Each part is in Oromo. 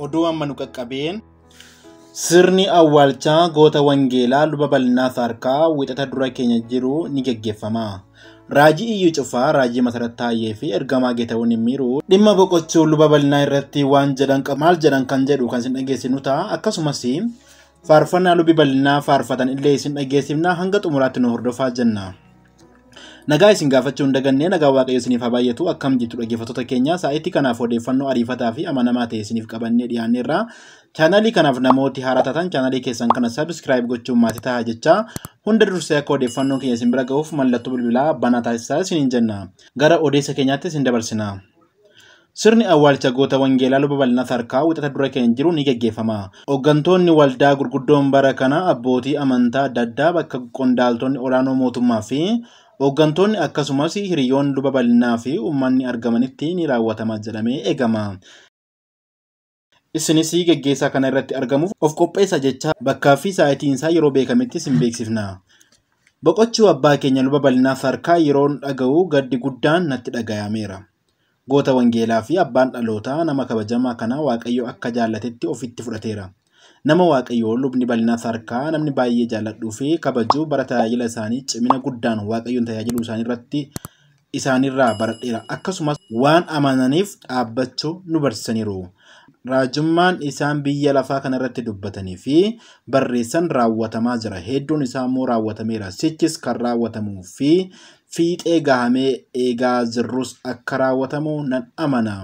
Oduu amma nu qaqqabeen sirni awwaalchaa goota wangeelaa luba bal'inaa saarkaa wixata dura keenya jiru ni geggeeffama. Raajii iyyuu cufaa, raajii masarat taayyee fi ergamaa geetawuun hin miiru. Dhimma boqochuu luba bal'inaa irratti waan jedhan qabu maal jedhan kan jedhu kan isin dhageessinu ta'a. Akkasumas faarfannaa lubi bal'inaa faarfatan illee isin dhageessifna hanga xumuraatti nu hordofaa jenna. Nagaa isin gaafachuu hin daganne nagaa waaqayyo isiniif haa baay'atu akkam jirtu dhaggeeffattoota keenya sa'aatii kanaaf odeeffannoo ariifataa fi amanamaa ta'e isiniif qabannee dhiyaanneerra. Chaanaalii kanaaf namooti haaraa taatan chaanaalii keessan kana sabiskiraayib gochuun maatii ta'a jecha hunda dursee akka odeeffannoon keenya isin bira gahuuf mallattoo bilbilaa banaa taasisaa isiniin jenna. Gara odeessa keenyaatti isin dabarsina. Sirni awwaalcha goota Wangeelaa Luba Bal'inaa Sarkaa wixata dura keenya jiru ni geggeeffama. Hoggantoonni waldaa gurguddoon bara kana abbootii amantaa adda addaa bakka qondaaltonni olaanoo mootummaa fi hoggantoonni akkasumas hiriyoonni Luba Bal'inaa fi uummanni argamanitti ni raawwatama jedhamee eegama. Isinis geggeessaa kana irratti argamuuf of qopheessaa jechaa bakkaa fi saa'itiin isaa yeroo beekametti isin beeksifna. Boqochuu abbaa keenya luba bal'inaa Saarkaa yeroon dhaga'u gaddi guddaan natti dhagayameera. Goota wangeelaa fi abbaan dhalootaa nama kabajamaa kanaa Waaqayyo akka jaallatetti ofitti fudhateera. Nama Waaqayyoo lubni bal'inaa Saarkaa namni baay'ee jaalladhuu fi kabaju bara tajaajila isaanii cimina guddaan Waaqayyoon tajaajiluu isaanii irratti isaaniirraa baradheera, akkasumas waan amananiif dhaabbachuu nu barsiisaniiru. Raajummaan isaan biyya lafaa kanarratti dubbatanii fi barreessan raawwatamaa jira, hedduun isaa immoo raawwatameera, sichis kan raawwatamuu fi fiixee gahamee eegaa jirrus akka raawwatamu nan amana.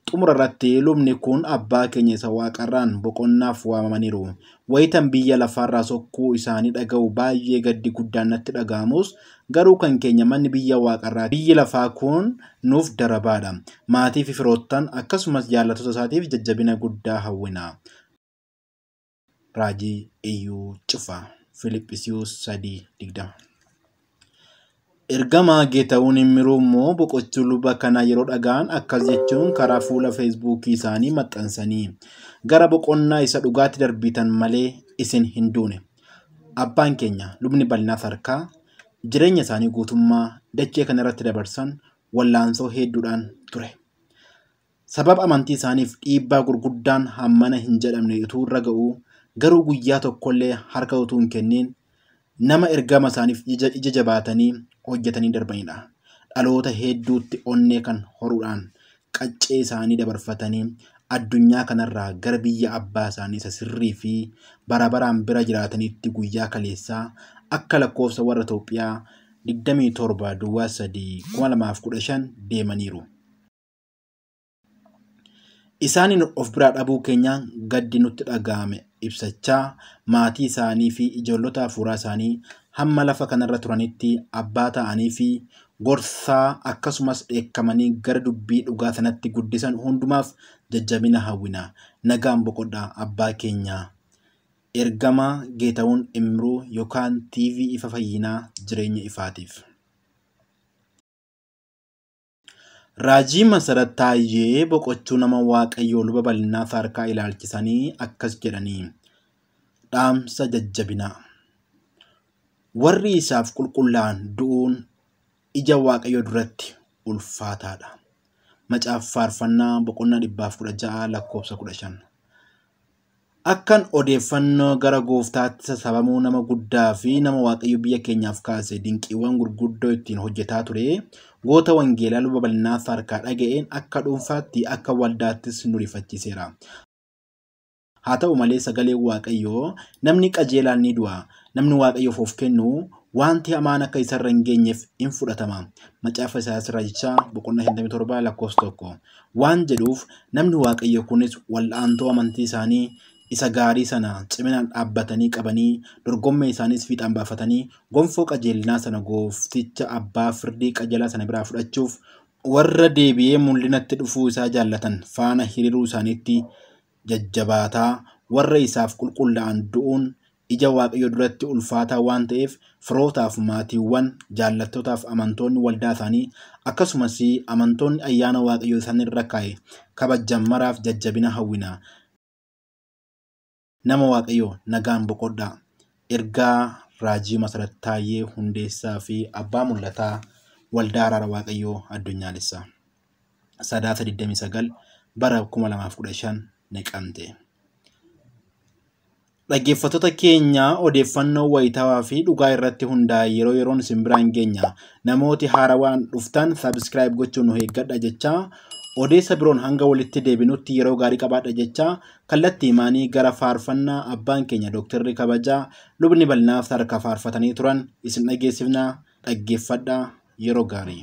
Xumura irratti lubni kun abbaa keenya isa waaqarraan boqonnaaf waamamaniiru. Wayitan biyya lafaarraa sokkuu isaanii dhaga'u baay'ee gaddi guddaan natti dhaga'amus garuu kan keenya manni biyya waaqarraa biyyi lafaa kun nuuf darabaadha. Maatii fi firoottan akkasumas jaallattoota isaatiif jajjabina guddaa hawwina. Raajii Iyyuu cfa. Filiphisiyuus 3 20. Ergamaa Geetawuun Immiruu immoo boqochuu luba kana yeroo dhaga'an akkas jechuun karaa fuula feesbuukii isaanii maxxansanii gara boqonnaa isa dhugaatti darbiitan malee isin hin duune. Abbaan keenya lubni bal'inaa sarkaa jireenya isaanii guutummaa dachee kana irratti dabarsan wallaansoo hedduudhaan ture. Sababa amantii isaaniif dhiibbaa gurguddaan hammana hin jedhamne utuu irra ga'uu, garuu guyyaa tokkollee harka utuu hin kenniin nama ergama isaaniif ija jabaatanii hojjetanii darbanidha. Dhaloota heedduutti onnee kan horuudhaan qaccee isaanii dabarfatanii addunyaa kanarraa gara biyya abbaa isaanii isa sirrii fi bara baraan bira jiraataniitti guyyaa kaleessaa akka lakkoofsa warra Itoophiyaa 27 Duwwaa 3 2015 deemaniiru. Isaaniin of biraa dhabuu keenyaan gaddi nutti dhaga'ame ibsachaa maatii isaanii fi ijoollota hafuuraa isaanii hamma lafa kanarra turanitti abbaa ta'anii fi gorsaa akkasumas dheekkamanii gara dubbii dhugaa sanatti guddisan hundumaaf jajjabina hawwina. Nagaan boqodhaa abbaa keenyaa. Ergamaa Geetawun Imruu yookaan TV Ifa Fayyinaa Jireenya Ifaatiif. Raajii Masarat Taayyee boqochuu nama Waaqayyoo Luba Bal'inaa Saarkaa ilaalchisanii akkas jedhanii dhaamsa jajjabinaa. Warri isaaf qulqullaa'an du'uun ija Waaqayyoo duratti ulfaataadha. Macaafa Faarfannaa boqonnaa 116 lakkoofsa 15. Akkan odeeffannoo gara Gooftaatti sassabamuu nama guddaa fi nama Waaqayyo biyya keenyaaf kaase dinqiiwwan gurguddoo ittiin hojjetaa ture goota wangeelaa luba bal'inaaf harkaa dhaga'een akka dhuunfaatti akka waldaattis nu rifachiiseera. Haa ta'u malee sagaleen Waaqayyoo namni qajeelaan ni du'a, namni Waaqayyoof of kennu wanti hamaan akka isarra hin geenyeef in fudhatama. Macaafa Isaayyaas Raajichaa boqonnaa 57 lakkoofsa 1. waan jedhuuf namni Waaqayyoo kunis wal'aantuu amantii isaanii isa gaarii sana ciminaan dhaabbatanii qabanii dorgommee isaaniis fiixaan baafatanii gonfoo qajeelinaa sana goofticha abbaa firdii qajeelaa sana biraa fudhachuuf warra deebi'ee mul'inatti dhufuu isaa jaallatan faana hiriiruu isaaniitti jajjabaataa warra isaaf qulqullaa'an du'uun ija Waaqayyoo duratti ulfaataa waan ta'eef firootaaf, maatiiwwan, jaallattootaaf amantoonni waldaa isaanii akkasumas amantoonni ayyaana Waaqayyoo isaan irra kaa'e kabajjan maraaf jajjabina hawwina. Nama Waaqayyoo nagaan boqodhaa. Ergaa Raajii Masarat Taayyee Hundeessaa fi Abbaa Mul'ataa Waldaa Araara Waaqayyoo Addunyaalessaa. Sadaasa 29 bara 2015 Naqamte. Dhaggeeffattoota keenya odeeffannoo wayitaawaa fi dhugaa irratti hundaa'e yeroo yeroon isin biraan geenya. Namooti haarawaan dhuftan subscribe gochuun nu eeggadha jechaa odeessa biroon hanga walitti deebinutti yeroo gaarii qabaadha jechaa kallattii himaanii gara faarfannaa abbaan keenya dooktarri kabajaa lubni bal'inaa sadarkaa faarfatanii turan isin dhageessifna dhaggeeffadha yeroo gaarii.